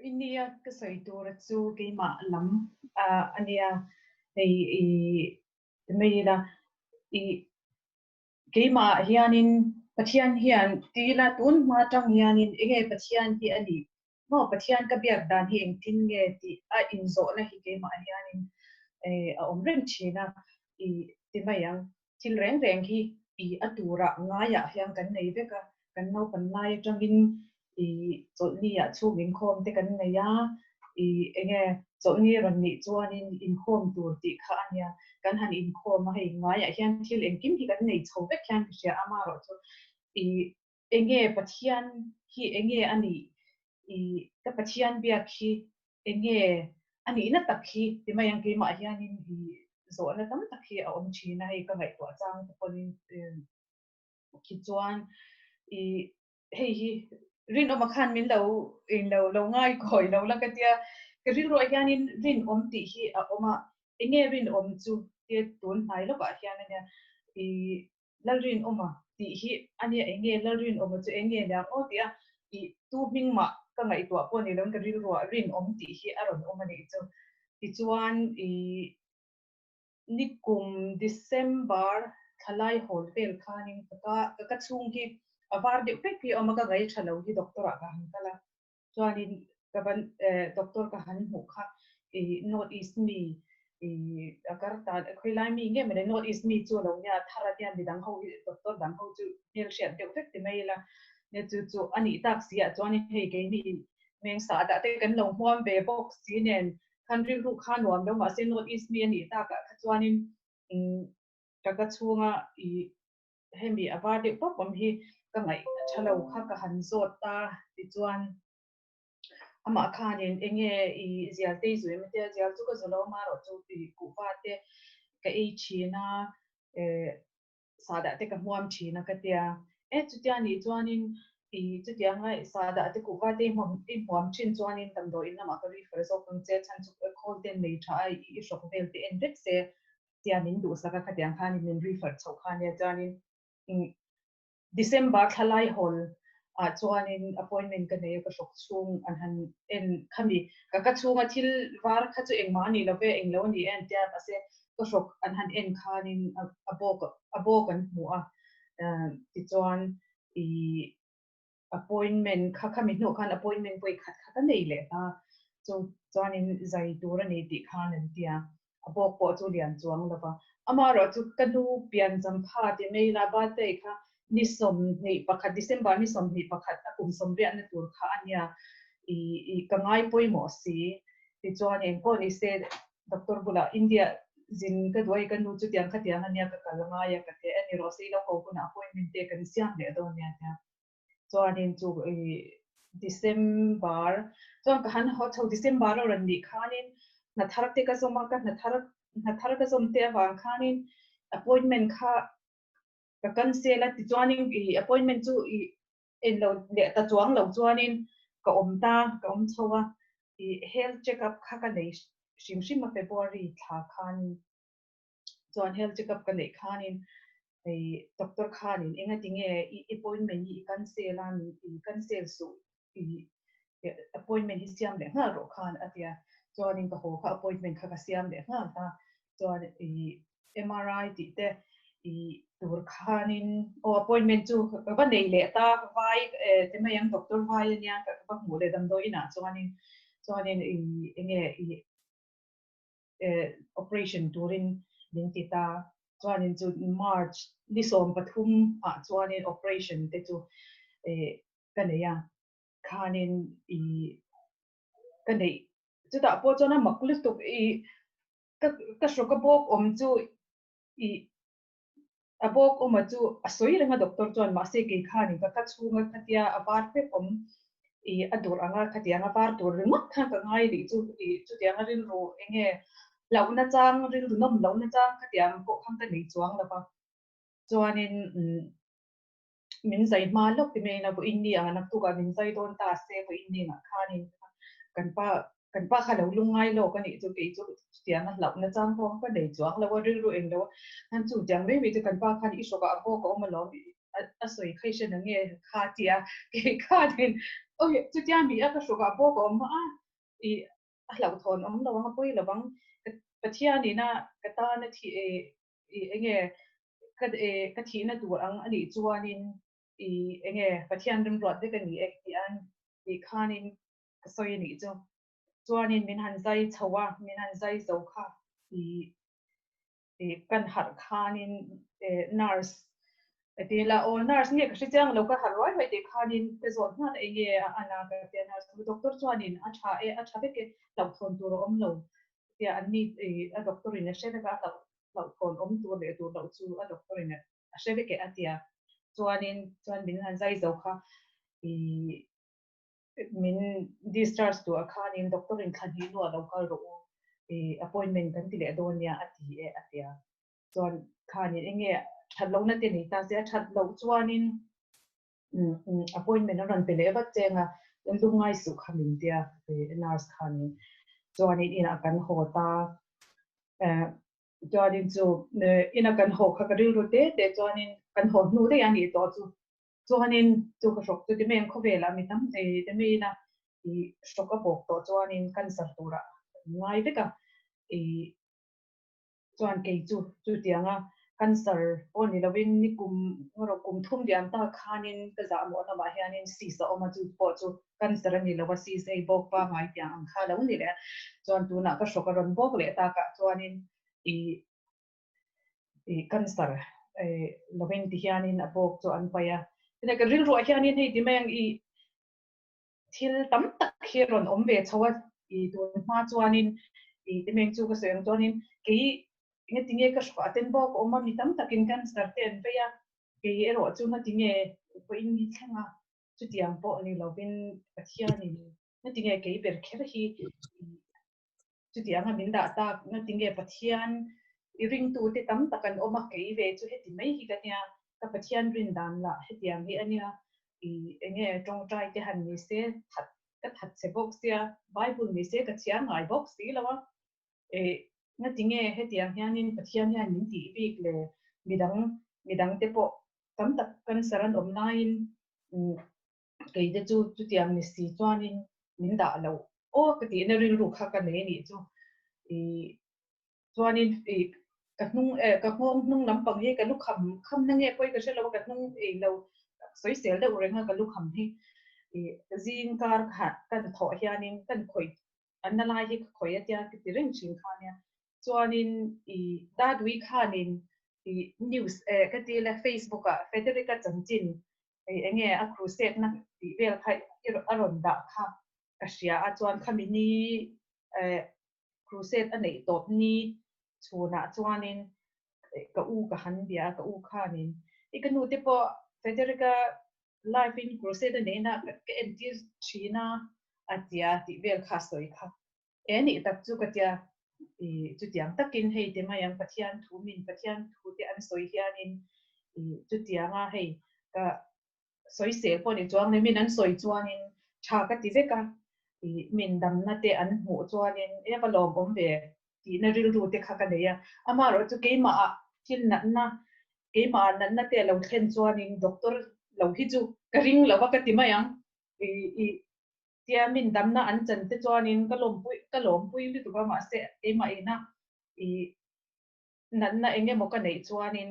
I nia, ka sawi tura chu keimah lam a nia, hei i ti mai ila, i keimah hianin Pathian hian ti ila, tun hma tang hianin eng nge Pathian hi a nih? Maw Pathian ka biak dan hi engtin nge? tih a inzawhna hi keimah hianin a awm reng thin a, i ti mai ang. thil reng reng hi i a tura ngaiah hian kan nei vek a, kan naupan lai atangin i chawlhni ah chhum inkhawm te kan nei a, i enge chawlhni rawn nih chuanin inkhawm tur tih kha a nia, kan han inkhawm a hei ngaiah hian thil engkim hi kan nei chho vek hian ka hria a, amaherawhchu i Enge Pathian hi enge a nih? I ka Pathian biak hi enge a nihna tak hi ti mai ang keimah hianin i zawhna tam tak hi a awm thin a hei ka ngaihtuah chang te pawhin khi chuan i hei hi rinawma khan min lo in lo lo ngaikawi lo la ka tia ka rilruah hianin rinawm tih hi a awm a enge rinawm chu tia tun hnai lawkah hian a nia i Lalrinawm a? tih hi a nia eng nge Lalrinawm a chu eng nge nia ngaw tih a, i tu hming mah ka ngaihtuah pawh ni lo ka rilruah rinawm tih hi a rawn awm a nih chu. Tichuan i nikum December thalai hawl vel khanin ka ka chhung hi a var deuh fek hi a awm a ka ngaithalo hi doctor ah ka han kal a, chuanin ka va doctor ka han hmuh kha i north east mi i a kar ta a khawilai mi nge mawni north east mi chu a lo nia thar a nia midang ho hi doctor dang ho chu hmel hriat deuh vek ti mai ila nia chu chu a nih tak si ah chuan hei keini meng sah dah te kan lo hmuam ve bawk si nen khan rilru kha nuam lo mahse north east mi a nih tak ah kha chuanin ka ka chhunga i hemi a var deuh tawp awm hi ka ngaih tha lo kha ka han zawt ta tichuan amah khanin enge i zialtei zu em atia zial chu ka zu lo ama erawh chu tui kuhva te ka ei thin a eh sah dah te ka hmuam thin a ka tia eh chutia nih chuanin i chutia ngai sah dah te kuhva te i hmuam thin chuanin damdawi in lamah ka refer zawk ang che chhan chu khawl ten nei tha a i hrawk vel te en vek se tia min duhsak a, khatiang khanin min rifat chhoh kha nia chuanin December thalai hawl ah chuanin appointment ka nei a, ka hlawk chhung an han en kha mi ka ka chhunga thil var kha chu engmah anih lo ve englo anih en tia mahse ka hlawk an han en khanin a bawk a bawk an hmu a tichuan ih Appointment kha khami hnawh khan appointment pawh i khat khat a nei leh hla, chu chuanin zai tur a ni tih khan an ti a, a bawk pawh chu lian chuang lo va. Amaherawh chu ka nu pian Zamphat i Meira birthday kha ni sawmhnih pakhat, December ni sawmhnih pakhat a kum sawmriahna tur kha a nia, i ka ngai pawimawh si, tichuan engkaw nise Doctor bulah India zin ka duai ka nu chutiang khatiang ania ka kal ngai a ka ti a, enirawh ase i lo ko hunah appointment te kan siam leh dawn nia tia chuanin chu i December chuan ka han haw chho December lo ran nih khanin hnathar te ka zawm a ka hnathar hnathar ka zawm te avang khanin appointment kha ka cancel a tichuanin i appointment chu i en lo leh ta chuang lo chuanin ka awm ta ka awm chho a, ih health check up kha ka nei hrim hrim a February thla khanin chuan health check up ka neih khanin hei doctor khanin engatinge i appointment hi i cancel a min i cancel suh ih appointment hi siam leh nghal rawh khan a ti a, chuanin ka haw kha appointment kha ka siam leh nghal a, chuan ih MRI tih te ih tur khanin aw appointment chu ka va nei leh ta vai eh ti mai ang doctor vai a nia ka va hmuh leh damdawi inah chuanin chuanin ih enge ih eh operation turin min ti ta chuanin chu March ni sawm pathum ah chuanin operation te chu eh ka nei a. khanin i ka neih chutah pawh chuan a mak lutuk i ka ka hru ka bawk awm chu i a bawk awma chu a sawi reng a doctor chuan mahse kei khanin ka ka chhunga khatia a var vek awm i a dur anga khati anga var tur ringawt khan ka ngai leh chu i chutiang a rilru enge loh nachang rilru nawm loh nachang khatiang pawh khan ka nei chuang lova chuanin umm min zai hma lawk ti mai ina vaw inni ang a nak tukah min zai dawn ta a se vaw inni ang ah khan in kan pa kan pa kha lo lung ngai lawk a nih chu kei chu chutiang a hlauh nachang pawh ka va nei chuang lo a rilru eng lo a khan chu tiang mai mai chu kan pa khan i shock ah a bawk a awm a lawm a sawi khai hran ang nge kha a ti a kei khan in awih chutia mi a ka shock ah a bawk a awm a i a hlauh thawn awm lo ang a pawi lo ang ka pathian ina ka tan a thi e I enge ka ka thihna tur ang a nih chuanin i enge Pathian rimruat vek a ni e tih an tih khanin ka sawi a nih chu. Chuanin min han zai chho a, min han zai zo kha i i kan harh khanin e nurse a ti ila aw nurse nge ka hre chiang lo ka harh ruai ruai teh khanin ka zawt nghal enge a ana ka ti a nurse doctor chuanin a tha e a tha vek e hlauhthawn tur a awm lo Tia an ni i a doctor in a hre vek a, a hlauh hlauh thawn awm tur leh tur loh chu a doctor in a hre vek e a tia chuanin chuan min han zai zo kha i min discharge tur ah khanin doctor in thla hnih luah lo kal rawh u i appointment kan ti leh dawn nia a ti e a tia chuan khanin enge that lohna te nei ta se a that loh chuanin Appointment a rawn pe leh vat cheng a, lu ngai suh kha min tia nurse khanin chuanin in a kan haw ta. Chuanin chu in a kan haw kha ka rilru te te chuanin kan haw hnu daih a nih tawh chu chuanin chu ka hrawk chu Dimeiin khawvelah mi tam e Dimeiina hrawk a bawk tawh chuanin cancer turah ngai vek a. Chuan kei chu chu tiang a, cancer pawh ni lovin ni kum emaw kum thum diam ta khanin ka zah mawh lamah hianin cyst a awm a, chu pawh chu cancer a ni lo a, cyst ei bawk pangngai tiang ang kha lo ni leh a, chuan tunah ka hrawk a rawn bawk leh takah chuanin ih ih cancer ei lovin ti hianin a bawk chu an paih a, chutah ka rilruah hianin hei ti mai ang ih Thil tam tak hi a rawn awm ve chho a, i tun hma chuanin i te meng chu ka sawi ang chuanin kei nge tinge ka hrawh a ten bawk a awm a, mi tam takin cancer te an vei a, kei erawh chu nge tinge pawhin hi thleng a, chutiang pawh ni lovin Pathianin nge tinge kei ber kher hi chuti anga min dah tak na tinge Pathian i ringtu te tam tak an awm a, kei ve chu heti mai hi ka nia, ka Pathian rin dan lah hetiang hi a nia, i enge tawngtai te han ni se that ka that chhe bawk sia, Bible ni se ka chhiar ngai bawk si lo a, e na tinge hetiang hianin Pathian hian min tih bik le midang midang te pawh tam tak kan saran awm laiin kei te chu chutiang ni si chuanin min dah loh aw ka tih na rilru kha ka nei anih chu i chuanin i ka hnung e ka nghawng hnung lampang hi ka lu kham kham na nge pawi ka hre lo ka hnung ei lo sawisel deuh renga ka lu kham hi i zing kar khat ka ni thawh hianin ka ni khawih an na lai hi ka khawih a tia ka ti reng thin kha nia chuanin i dadui khanin i news e ka ti la facebook ah federica chanchin Kei eng nge a crusade na tih vel kha i rawn dah kha ka hria a chuan khami ni eh crusade a neih tawp ni chhun ah chuan in ka u ka han bia a ka u khan in i ka nu te pawh Frederick a life in crusade a nei na ka entir thin a a tia tih vel kha a sawi kha. E nih tak chu ka tia. I, chutiang takin hei timai ang Pathian thu min, Pathian thu te an sawi hianin i, chutianga hei ka sawi seh pawh ni chuang le min an sawi chuanin tha ka ti vek a, i, min damna te an hmuh chuanin e ka lawm awm ve tihna rilru te kha ka nei a. Amaherawh chu keimahah thil natna, keimahah natna te a lo thlen chuanin doctor lo hi chu ka ring lo va ka ti mai ang. I, i, Tia min damna an chan te chuanin ka lawmpui ka lawmpui lutuk a mahse keimah ina i natna eng emaw ka neih chuanin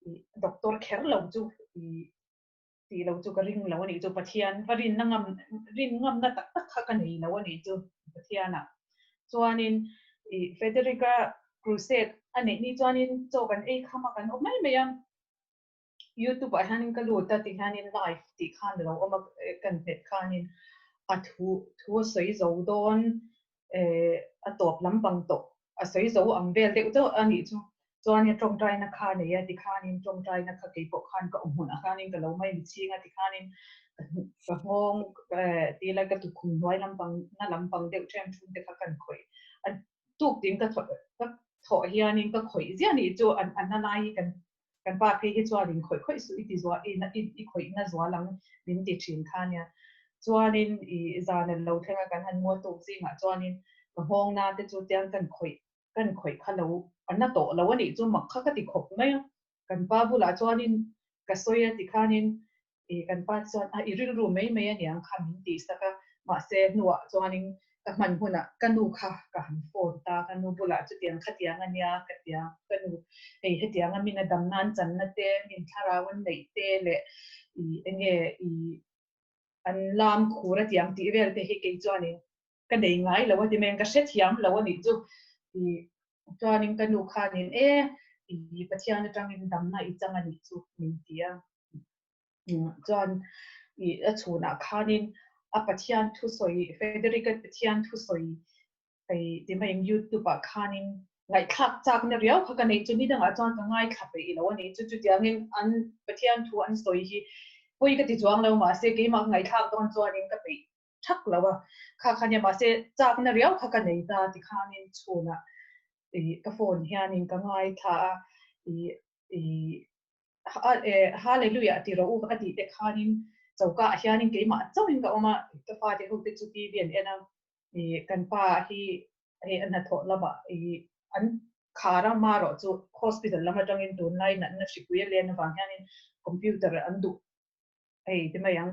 i doctor kher lo chu i tih lo chu ka ring lo a nih chu Pathian ka rinna ngam rin ngamna tak tak kha ka nei lo a nih chu Pathiana chuanin i Federica Crusade a neih ni chuanin chaw kan ei kham a kan awm mai mai a youtube ah hian in ka lut a ti hian in live tih khan a lo awm a kan hmet khan in a thu thu a sawi zo dawn eh a tawp lam pang tawh a sawi zo ang vel deuh deuh a nih chu chuan in tawngtai na kha nei a ti khan in tawngtai na kha kei pawh khan ka awm hmun ah khan in ka lo mai mi ching a ti khan in ka nghawng eh ti ila ka tukhum hnuai lam pang na lam pang deuh ṭhen ṭhun te kha kan khawih a tuk tin ka thawh ka thawh hian in ka khawih ziah nih chu an an la lai hi kan Kan pa phei hi chuan inkhawih khawih suh i ti zuah i na i khawih na zual ang min ti thin kha nia. Chuanin i zan a lo thlenga kan han mual tuk zingah chuanin ka nghawng na te chu tiang kan khawih kan khawih kha lo a na tawh lo a nih chu mak kha ka ti khawp mai a. Kan pa bulah chuanin ka sawi a ti khanin I kan pa chuan a i rilru mai mai a niang kha min tih sak a, mahse hnuah chuanin ka hman hunah ka nu kha ka han phone ta, ka nu bulah chutiang khatiang a nia ka ti a, ka nu hei hetianga min a dam nan channa te, min thlarau an neih te leh i enge i an lam khur a tiang tih vel te hi kei chuanin ka nei ngai lo a ti mai ang, ka hre thiam lo a nih chu i chuanin ka nu khanin e i Pathian atangin damna i chang a nih chu min ti a. Chuan i a chhunah khanin a Pathian thusawi Federica Pathian thusawi hei ti mai ang YouTube ah khanin ngaihthlak chakna riau kha ka neih chu ni dangah chuan ka ngaithla peih lo a nih chu, chutiangin an Pathian thu an sawi hi pawi ka ti chuang lo mahse keimah ka ngaithlak dawn chuanin ka peih thak lo a kha khan nia mahse chakna riau kha ka nei ta ti khan in chhun ah i ka phone hian in ka ngai thla a i i Hallelujah ti rawh u a tih te khan in choka ah hian in keimah chauh in ka awm a ka fa te ho te chu TV an en a i kan pa hi hei a hnathawh lam ah i an kha rang ma rawh chu hospital lam atang in tunlai natna hripui a len avang hian in computer an duh hei te mai ang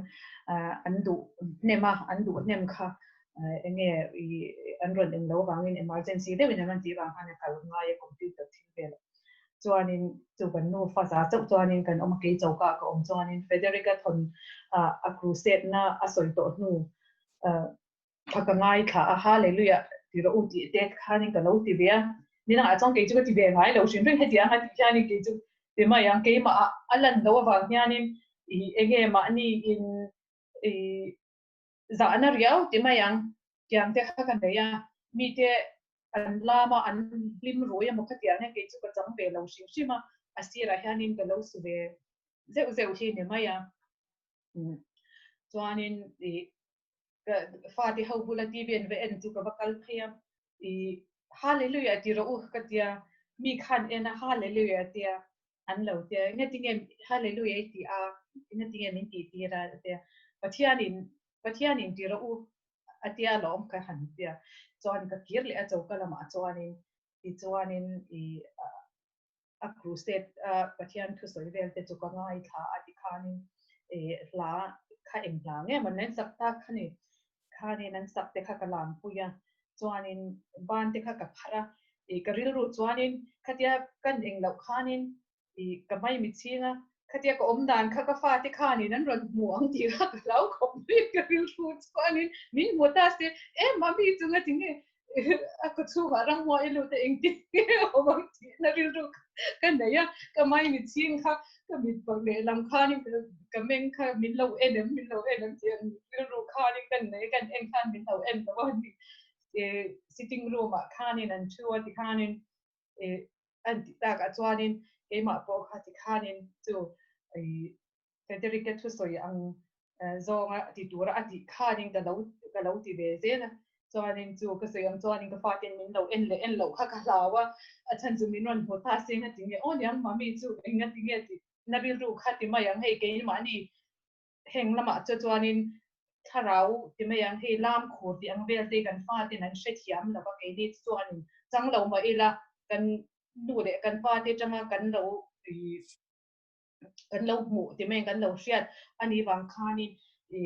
an duh hnem a, an duh hnem kha eng nge i an rawn en lo vangin emergency deuh in an rawn tih vang khan a kal ngai a computer thil velah chuanin chu kan nu faza chauh chuanin kan awm a kei choka ka awm chuanin Frederick a thawn a crusade na a sawi tawh hnu A ka ngaithla a, ha Leiluih ah ti rawh u tih Ted khanin ka lo ti ve a, nin angah chuan kei chu ka ti ve ngai lo, hrinhring hetiang anga tih hianin kei chu ti mai ang, keimahah a lan loh avang hianin i enge mahni in i zahna riau ti mai ang, kiang te kha ka nei a, mite an lam a, an hlim ruai emaw kha tih ah hian kei chu ka chang ve lo hrim hrim a, a sirah hianin ka lo su ve zeuh zeuh hi ni mai ang, chuanin i ka fate ho bula TV an ve en chu ka va kal phei a, i Hallelujah ti rawh u ka tia, mi khan ena Hallelujah tia an lo tia, i ngatinge Hallelujah i ti a, i ngatinge min ti tir a tia, Pathianin Pathianin ti rawh u a tia lawm ka han tia, chuan ka kir leh a choka lamah chuanin tichuanin i a crusade a Pathian thusawi vel te chu ka ngai thla a ti khanin e hla kha eng hla ngei maw nen sak tak kha ni khanin an sak te kha ka lam pui a chuanin ban te kha ka kharh a i ka rilru chuanin khatia kan engloh khanin i ka mai mi chhinga khatia ka awm dan kha ka fate khanin an rawn hmuh ang tih kha ka hlau khawp mai a, ka rilru chuanin min hmu ta se e mami chunga tinge a kawchhungah rangmua i lut a engtin nge a awm ang tihna rilru ka neih a, ka mai mitching kha ka mitpawh lehlam khanin ka meng kha min lo en em min lo en em tih a nih rilru khanin ka neih a kan en khan min lo en lo a nih sitting room ah khanin an thu a tikhanin Antih takah chuanin keimah pawh kha tikhanin chu Federica thu sawi ang zawnga ti tura a tih khanin ka lo ka lo ti ve zel a, chuanin chu ka sawi ang chuanin ka fa ten min lo en leh en loh kha ka hlau a, a chhan chu min rawn hmu ta se nga ti nge aw niang mami chu enga ti nge tih na rilru kha ti mai ang hei keimah ni heng lamah chu chuanin thlarau ti mai ang hei lam khur tih ang vel te kan fate in an hrethiam lo va keini chu chuan anin chang lo mah ila kan nu leh kan pa te tanga kan lo kan lo hmuh ti mai ang kan lo hriat ani vang khanin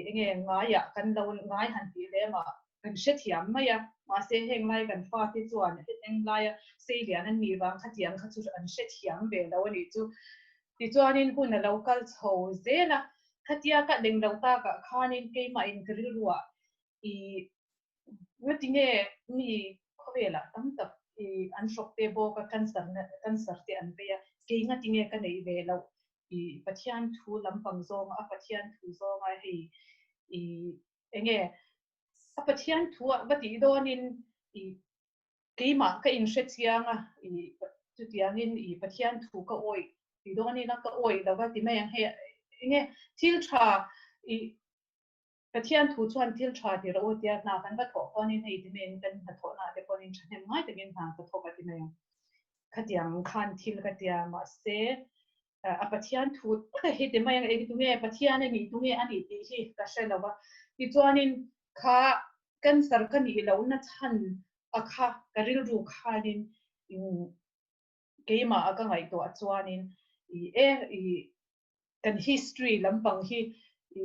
enge ngaiah kan lo ngai han tih hle mah Kan hre thiam mai a, mahse heng lai kan fate chuan heng laia seilian an nih vang khatiang kha chu an hre thiam ve lo a nih chu. Tichuanin hun a lo kal chho zel a, khatia ka deng lo takah khanin keimahin ka rilruah i Natine mi khawvelah tam tak i an hrawk te bawk a, cancer na cancer te an peih a, kei Natine ka neih ve loh i Pathian thu lampang zawnga a Pathian thu zawnga hei i Eng nge a Pathian thua va tih dawnin i keimah ka inhrechiang a, i chutiangin i Pathian thu ka awih ti dawnin a, ka awih lova ti mai ang hei. Eng nge thil tha i Pathian thu chuan thil tha ti rawh u tia hna kan va thawh pawn in hei ti maiin kan hnathawhna te pawnin thahnem ngai takin hna ka thawk a ti mai ang. Khatiang khan thil ka tia mahse a Pathian thu taka hi ti mai ang eng tunge, Pathian a nih tunge a nih tih hi ka hre lo a. Tichuanin kha cancer ka nih lohna chhan a kha ka rilru khanin keimah a ka ngaihtuah chuanin i e i kan history lampang hi i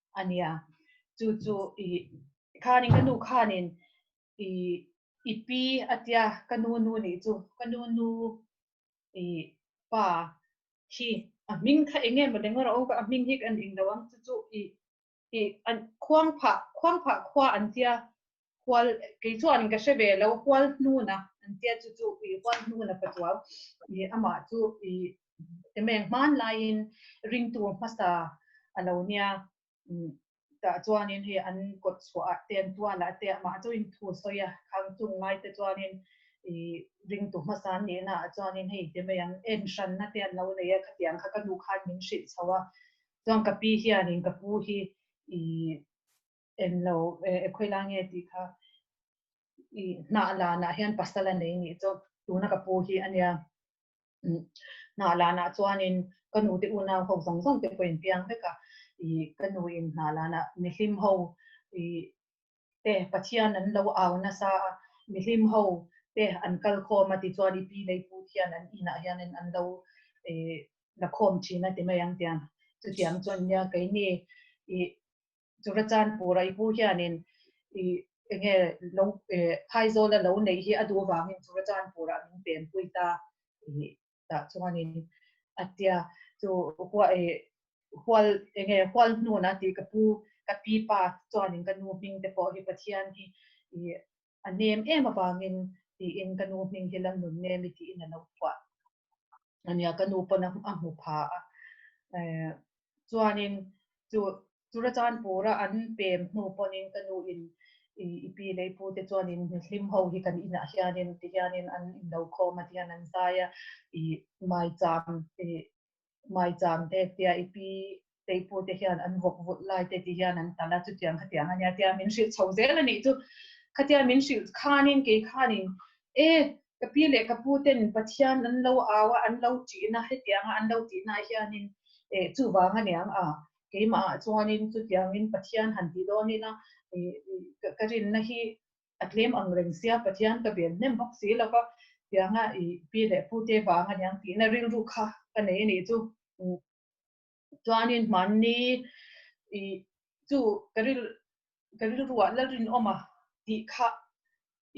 a nia. Chu chu i khanin ka nu khanin i i pi a tia ka nu nu nih chu ka nu nu i pa hi a hming kha eng nge maw leng a hming hi kan ring lo ang chu chu i i khuang phah khuang phah khua an tia Hual, kei chuan ka hre ve lo, hual hnuna an tia chu chu i hual hnuna ka tuau. I amah chu i temeng hmanlaiin ring tur hmasa a lo nia tah chuanin hei an kawt chhuahah te, an tualah te amah chu in thu sawi a, khang chung lai te chuanin i ring tur hmasa an nihna ah chuanin hei temei ang en hranna te an lo nei a, khatiang kha ka nu khan min hrilh chho a, chuan ka pi hianin ka pu hi i en lo e khawih lai nge tih kha i hnah lanah hian pasal a nei nih chu tuna ka pu hi a nia hnah lanah chuanin ka nu te unau ho zawng zawng te pawhin piang vek a i ka nu in hnah lanah mihlim ho i te pathian an lo au nasa a mihlim ho te an kal khawm a ti chuan i pi lei put hian an inah hianin an lo e la khawm thin a ti mai ang tia chutiang chuan nia keini i Chura chuan Pu Raipu hianin i enge lo phaizawla lo neih hi a duh vangin Chura chuan Pu Rah min penpui ta tih tah chuanin a tia. Chu hual enge hual hnuna tih ka pu ka pi pa chuanin ka nu hming te pawh hi Pathian hi i a nem em avangin tiin ka nu hming hi la nun nemi tiin a lo phuah. a nia ka nu pawn a hmu pha a chuanin chu chu ra chan pura an pem hnu pawhin ka nu in i pi leh i pute chuanin hlim ho hi kan inah hianin ti hianin an inlo khawm a ti hian an zai a i mai cham i Hmai cham te tia i pi te i pu te hian an vawk vulh lai te tih hian an tal a, chutiang khatiang a nia tia min hrilh chho zel a nih chu. Khatia min hrilh khanin kei khanin e ka pi leh ka pu ten Pathian an lo au a, an lo ṭih na hetiang a an lo tih na hianin e chuvang a niang a, keimahah chuanin chutiangin Pathian han ti dawnin a i ka rinna hi a tlem ang reng sia, Pathian ka bel hnem bawk si lo ka tiang a, i pi leh pu te vang a niang tihna rilru kha ka nei a nih chu. Chuanin hmanni i chu ka ril ka rilru ah Lalrinawma tih kha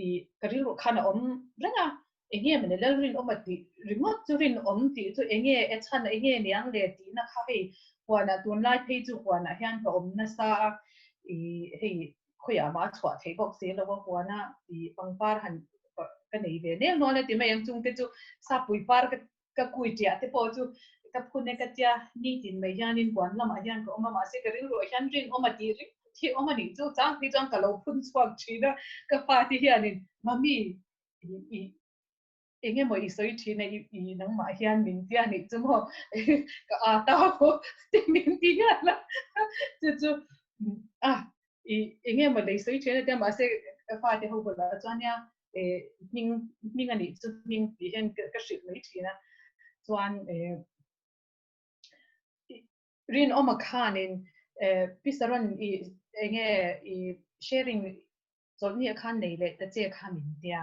i ka rilru khan a awm reng a, Enge mawni lal rin awm a tih ringawt chu rin awm tih chu enge e chhan a enge niang le tihna kha hei huanah tunlai phei chu huanah hian ka awm nasa a i hei khawiah a mah chhuah theih bawk si lo a huana i pangpar han ka nei ve nel nual a ti mai ang chungte chu sapui par ka ka kui tiah te pawh chu ka phun e ka tia nitin mai hianin huan lamah hian ka awm a mahse ka rilruah hian rin awm a tih ringawt hi awm a nih chu chang phei chuan ka lo phun chhuak thin a ka fate hianin mami i eng emaw i sawi thin a i nangmah hian min tia nih chu maw ka ata pawh tia min ti hian la chu chu a i eng emaw lei sawi thin atia mahse ka fate ho bulah chuania e hming hming anih chu hming tih hian ka hrilh mai thin a chuan e rin awma khanin e pisaron i enge i sharing Chawlhni a khan lei leh ta che kha min tia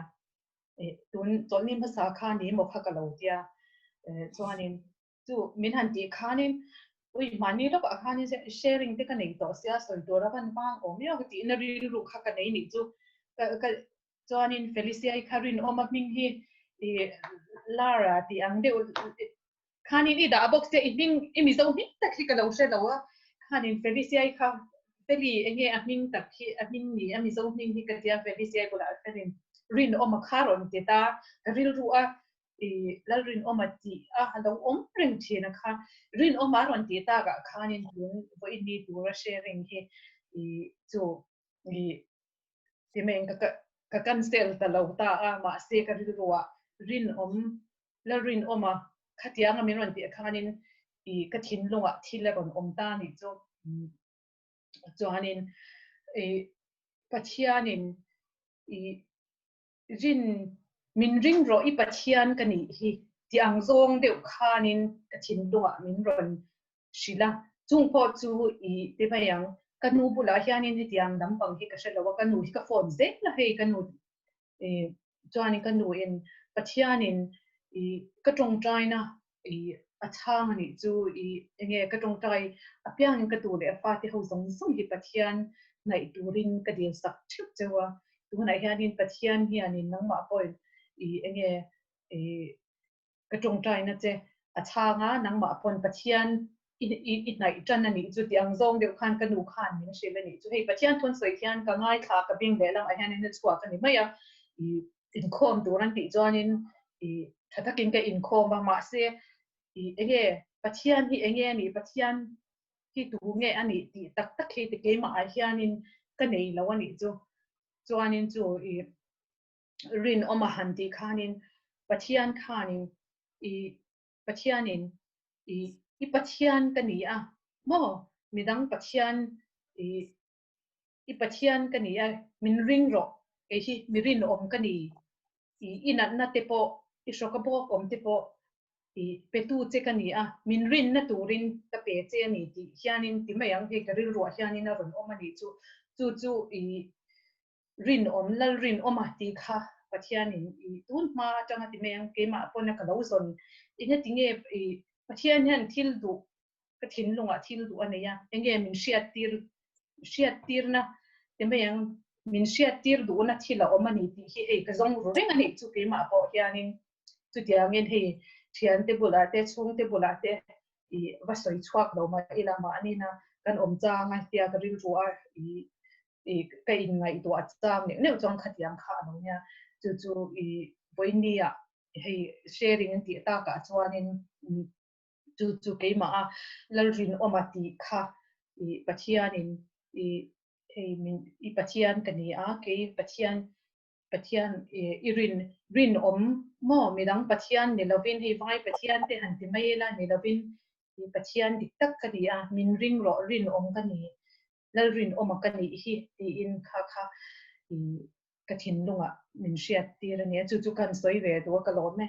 eh tun chawlhni hmasa a kha ni maw kha ka lo tia eh chuanin chu min han tih khanin ui mahni lawkah a khanin se sharing te ka nei tawh sia sawi tur a van vang awm miau ka tihna rilru kha ka nei nih chu ka ka chuanin Felicia-i kha rinawma hming hi ih Lara tih ang deuh Khanin i dah bawk se, i hming i mizo hming tak hi ka lo hre lo a, khanin Ferisai kha Feli enge a hming tak hi, a hming ni, a mizo hming hi ka ti a, Ferisai bulah khanin rinawm a kha rawn ti ta, ka rilru a, i lalrinawm a ti a, a lo awm reng thin a kha, rinawm a rawn ti tak ah khanin tun vawiin mi tura hre reng hi i chu i Timeng ka ka cancel ta lo ta a mahse ka rilrua rinawm la rinawma khatianga min rawn tih khanin i ka thinlunga thil a rawn awm ta ni chu chuanin i pathianin i Zin, Min ring rawh i Pathian ka nih hi, ti ang zawng deuh khanin ka thinlungah min rawn hrilh a, chung pawh chu i ti mai ang. Ka nu bulah hianin hetiang lam pang hi ka hre lo a, ka nu hi ka phone zel la hei, ka nu chuanin ka nuin Pathianin ka tawngtaina I a chhang a nih chu i enge ka tawngtai a piang in ka tu leh a fate ho zawng zawng hi Pathian hnaih tur in ka dil sak theuh cheu a, tu hunah hian in Pathian hian in nangmah pawhin i enge i ka tawngtai na che a chhang a, nangmah pawn Pathian i hnaih tan a nih chu ti ang, zawng deuh khan ka nu khan min hrilh a nih chu, hei Pathian thawn sawi khian ka ngaithla ka bing leh lamah hian in a chhuak a ni mai a, i inkhawm tur an tih chuan in i tha tak in ka inkhawm a, mahse i enge Pathian hi enge a nih, Pathian hi tu nge a nih tih tak tak hi ti keimah ah hian in ka nei lo a nih chu, chuan in chu i rinawm a han tih khan in Pathian khan in i Pathianin, I, i Pathian ka ni a maw? Midang Pathian, I, i Pathian ka ni a, min ring rawh, kei hi mi rinawm ka ni, I, i natna te pawh, i hrawka bawkawm te pawh, I, petu che ka ni a, min rinna turin ka pe che a ni tih hianin ti mai ang hei ka rilruah hianin a rawn awm a nih chu, chu chu, I, Rinawm, lal rinawm a tih kha Pathianin i tun hma atanga ti mai ang, keimah pawna ka lo zawn. Enge tinge i Pathian hian thil duh, ka thinlungah thil duh a nei a, enge min hriattir, hriattirna ti mai ang, min hriattir duhna thil a awm a ni tih hi hei ka zawng ru reng a nih chu keimah pawh hianin. Chutiangin hei thiante bulah te, chhungte bulah te i va sawi chhuak lo mah ila mahni na kan awm chang a tia ka rilru a. i ka in ngaihtuah a chang neuh neuh chuan khatiang kha a lo nia chu chu i vawinia hei sharing an tih tak ah chuanin chu chu keimah a lalrinawm a tih kha i pathian in i hei min i pathian ka ni a kei pathian pathian i rin rinawm maw mi dang pathian ni lovin hei vai pathian te han ti mai ila ni lovin i pathian dik tak ka ni a min ring rawh rinawm ka ni Lalrin awm a ka nih hi tiin kha kha i ka thinlungah min hriat tir a nia. Chu chu kan sawi ve duh a ka lawm e.